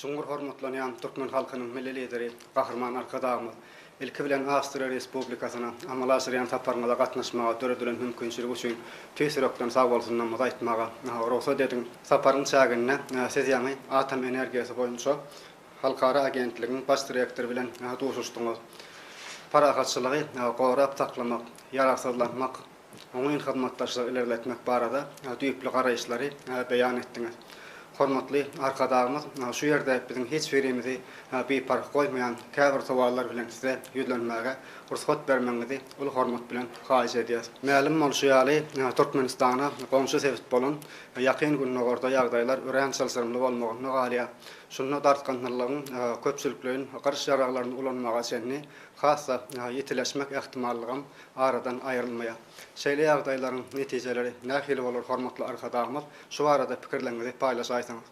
Çuňňur hormatlanýan türkmen halkynyň Milli Lideri Gahryman Arkadagymyz, ilki bilen, Awstriýa Respublikasyna amala aşyrýan saparyňyza gatnaşmaga döredilen mümkinçilik üçin tüýs ýürekden sagbolsunlarymyzy aýtmaga rugsat ediň. Saparyň çäginde Siz ýaňy Atom energiýasy boýunça halkara agentligiň baş direktory bilen duşuşdyňyz. Parahatçylygy gorap saklamak, ýaragsyzlanmak, oňyn hyzmatdaşlygy ilerletmek barada düýpli garaýyşlary beýan etdiňiz. Hormatly Arkadagymyz şu ýerde biziň hiç birimizi biparh goýmaýan käbir sowallar bilen Size ýüzlenmäge rugsat bermegiňizi uly hormat bilen haýyş edýäs. Mälim bolşy ýaly, Türkmenistana goňşy sebit bolan Ýakyn Gündogarda ýagdaýlar örän çylşyrymly bolmagynda galýar. Şunda dartgynlylygyň köpçülikleýin gyryş ýaraglaryny ulanmaga çenli has-da ýitileşmek ähtimallygam aradan aýrylmaýar. Şeýle ýagdaýlaryň netijeleri nähili bolar hormatly Arkadagymyz, şu barada pikirleriňizi paýlaşaýsaňyz.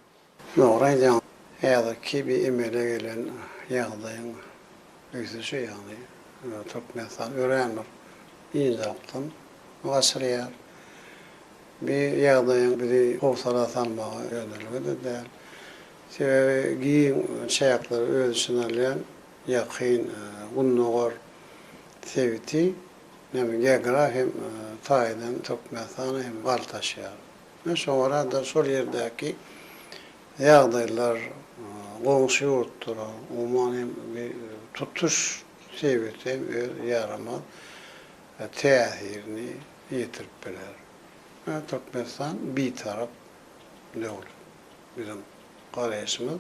Dogry aýdýaň. Häzirki bi emele gelen ýagdaýyň ösüşi ýagny Türkmenistan örän bir ýyndyrykdan gaçyrýar. Bi ýagdaýyň bizi howsala salmaga ýönelige-de däl. Sebäbi giň çäkleri öz içine alýan Ýakyn Gündogar Sebiti hem geografik hem taýdan Türkmenistana hem bagt açýar. Men şoňa görä-de şol ýerdäki ýagdaýlar, goňşy ýurtlara, umuman hem tutuş sebite hem öz ýaramaz täsirini ýetirip biler. Türkmenistan bitarap döwlet. Biziň garaýşymyz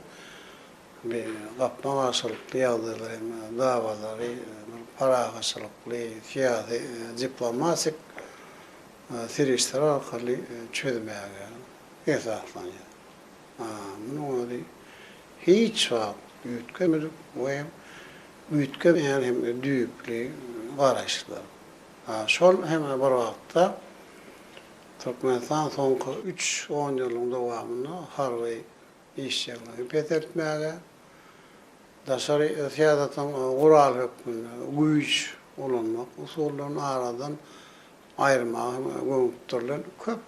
Bir gapma-garşylykly ýagdaýlar hem dawalary bir parahatçylykly, syýasy, diplomatik serişdeler arkaly çözmäge esaslanýar. Munuň özi hiç wagt üýtgemedik we hem üýtgemeýän hem düýpli garaýyşlar. Şol hem bir wagtda, Türkmenistan soňky üç onýyllygyň dowamynda harby işjeňligi peseltmäge, daşary syýasatyň guraly hökmünde güýç ulanmak usullaryny aradan aýyrmaga hem gönükdirilen köp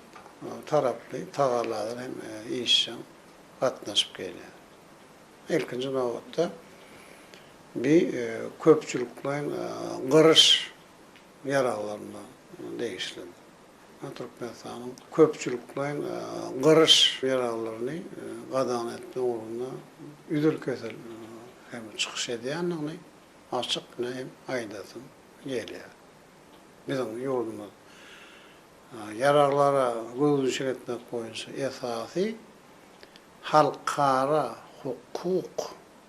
taraply tagallalar hem işjeň gatnaşyp gelýär. Ilkinji nobatda, bi köpçülikleýin gyryş ýaraglaryna degişlidir. Türkmenistanyň köpçülikleýin gyryş ýaraglaryny gadagan etmek ugrunda üzül-kesil hem çykyş edýändigini açyk näm aýdasym gelýär. Biziň ýurdumyz ýaraglara gözüniçik etmek boýunça esasy halkara hukuk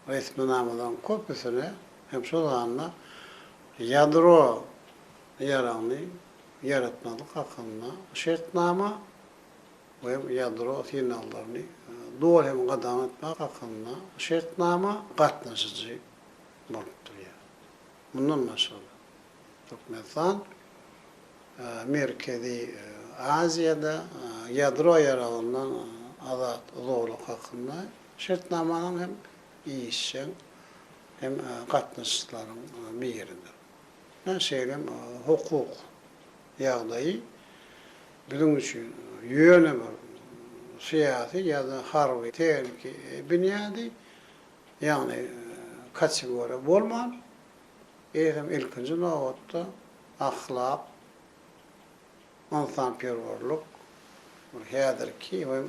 resminamalaryň köpüsine hem şol sanda ýadro ýaragyny ýaratmazlyk hakynda şertnama we ýadro synaglaryny doly hem gadagan etmek hakynda şertnama gatnaşyjy bolup durýar. Mundan başga-da, Türkmenistan Merkezi Aziýada ýadro ýaragyndan azat zolak hakynda şertnamanyň hem işjeň hem gatnaşyjylaryň biridir. Her şeýle hukuk ýagdaýy biziň üçin ýöne bir syýasy ýa-da harby tehniki binýady, ýagny kategoriýa bolman, eýsem ilkinji nobatda ahlak, ynsanperwerlik bir häzirki we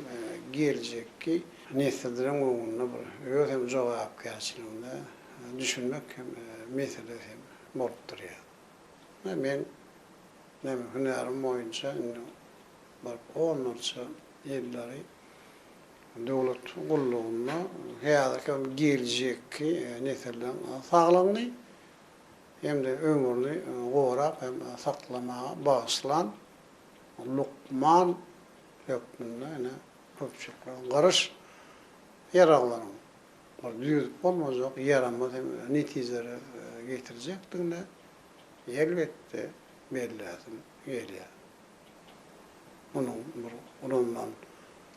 geljekki nesilleriň öňünde bir öz hem jogapkärçiligine düşünmek hem meselesi hem bolup durýar. Ine men näme hünärim boýunça indi bir onlarça ýyllary döwlet gullugynda häzirki hem geljekki nesilleriň saglygyny, hem-de ömrüni gorap hem saklamaga bagyşlan lukman hökmünde ine köpçülikleň gyryş ýaraglaryň bir düzüp bolmajak ýaramaz hem netijelere getirjekdigine elbetde belläsim gelýär. Munuň bir ulanylan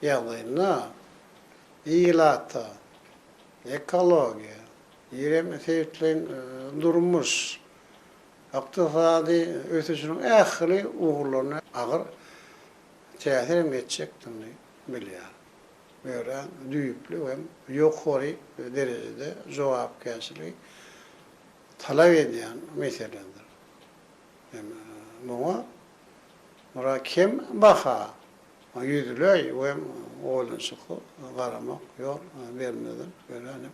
ýagdaýynda ilata, ekologiýa, Eýrem Seýitliň durmuş, ykdysady ösüşiniň ähli ugurlaryna agyr täsir hem etjekdigini bilýär. Bu örän düýpli hem ýokary derejede jogapkärçiligi talap edýän meseledir. Hem muňa muňa kem baha, ýüzleý hem oýlanyşykly garamak ýol bermezden örän hem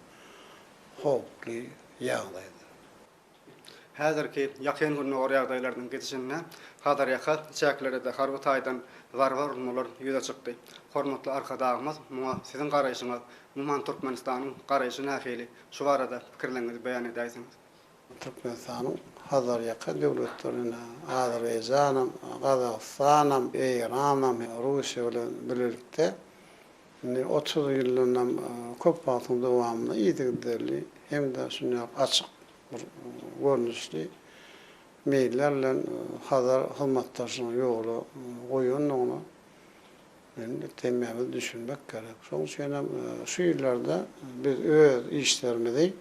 howply ýagdaýdyr. Häzirki Ýakyn Gündogar ýagdaýlarynyň gidişinde Hazarýaka çäkleride-de harby taýdan zarba urulmalar ýüze çykdy. Hormatly Arkadagymyz muňa siziň garaýşyňyz, umuman Türkmenistanyň garaýşy nähili, şu barada pikirleriňizi beýan edäýseňiz? Türkmenistanyň Hazarýaka döwletlerine, Azerbaýjanam, Gazagystanam, Eýranam, Russiýa bilen bilelikde, Indi otuz ýyldanam köp wagtyň dowamynda yzygiderli hem-de şuny ýaly açyk bir görnüşli meýiller bilen Hazar hyzmatdaşlygyny ýola goýandygyna men hemmämiz düşünmek gerek. Şonuň üçin hem şu ýyllarda biz öz işlerimizi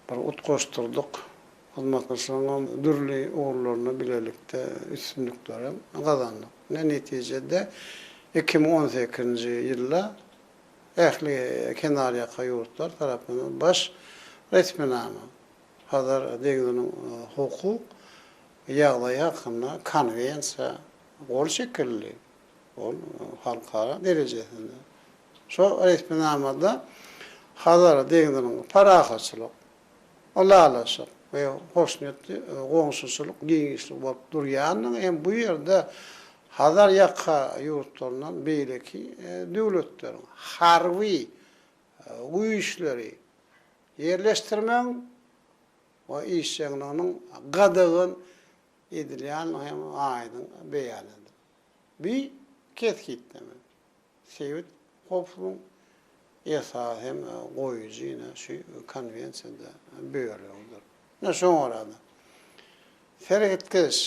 bir utgaşdyrdyk. Hyzmatdaşlygyň dürli ugurlarynda bilelikde üstünlikleri gazandyk. Ine, netijede, iki müň on sekizinji ýylda ähli kenarýaka ýurtlar tarapyndan baş resminama, Hazar deňziniň hukuk ýagdaýy hakynda konwensiýa gol çekildi. Ol halkara derejesinde. Şol resminamada Hazar deňziniň parahatçylyk, ylalaşyk we hoşniýetli goňşuçylyk giňişligi bolup durýandygyny hem bu ýerde Hazar ýaka ýurtlaryndan beýleki döwletleriň harby güýçleri ýerleşdirmegiň we işjeňliginiň gadagan edilýändigini hem aýdyň beýan edildi. Bu kesgitleme Sebit howplugyň esasy hem goýujy ine şu Konwensiýada bölegidir. Ine şoňa görä-de, seretgeç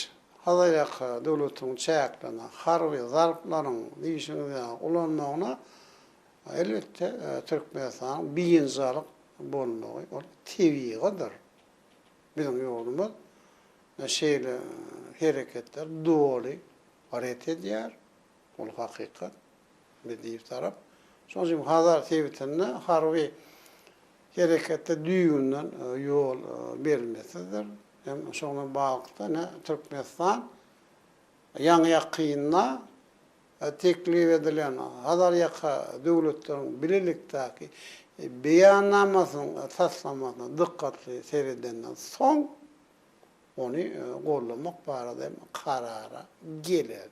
Hazarýaka döwletiniň çäklerinde harby zarplaryň diýşiňiz ýaly ulanmagyna elbetde Türkmenistanyň biynjalyk bolmagy ol tebigydyr. Biziň ýurdumyz şeýle hereketleri doly ret edýär. Bul hakykat. Medýew tarap. Şonuň üçin Hazar sebitinde harby herekete düýbünden ýol berilmesizdir. Hem şo bilen baglylykda ine Türkmenistan ýaňy ýakynda teklip edilen Hazarýaka döwletleriň bilelikdäki beýannamasynyň taslamasyna dykgatly seredenden soň ony goldamak barada hem karara geler.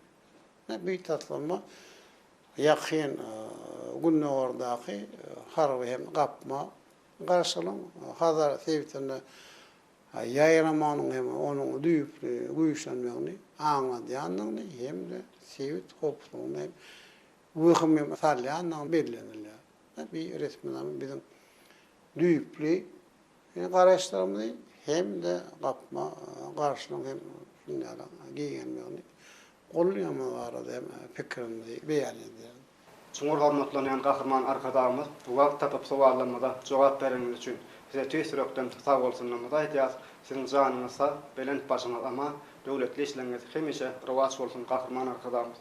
Bu taslama Ýakyn Gündogardaky harby hem gapma garşylygyň Hazar sebitinde ýaýramagynyň hem onuň düýpli güýçlenmegini aňladýandygyny hem-de sebit howpsuzlygyna hem wehim salýandygyny bellenilýär. Bu resminama biziň düýpli Biziň garaýyşlarymyzy hem-de gapma garşynyň hem dünýäde giňelmegini goldaýandygy barada hem pikirimizi beýan edýäris. Çuňňur hormatlanýan Gahryman Arkadagymyz, wagt tapyp sowallarymyza jogap bereniňiz üçin Size tüýs ýürekden sagbolsunlarymyzy aýdýarys. Siziň janyňyz sag, belent başyňyz aman, döwletli işleriňiz hemişe rowaç bolsun, Gahryman Arkadagymyz!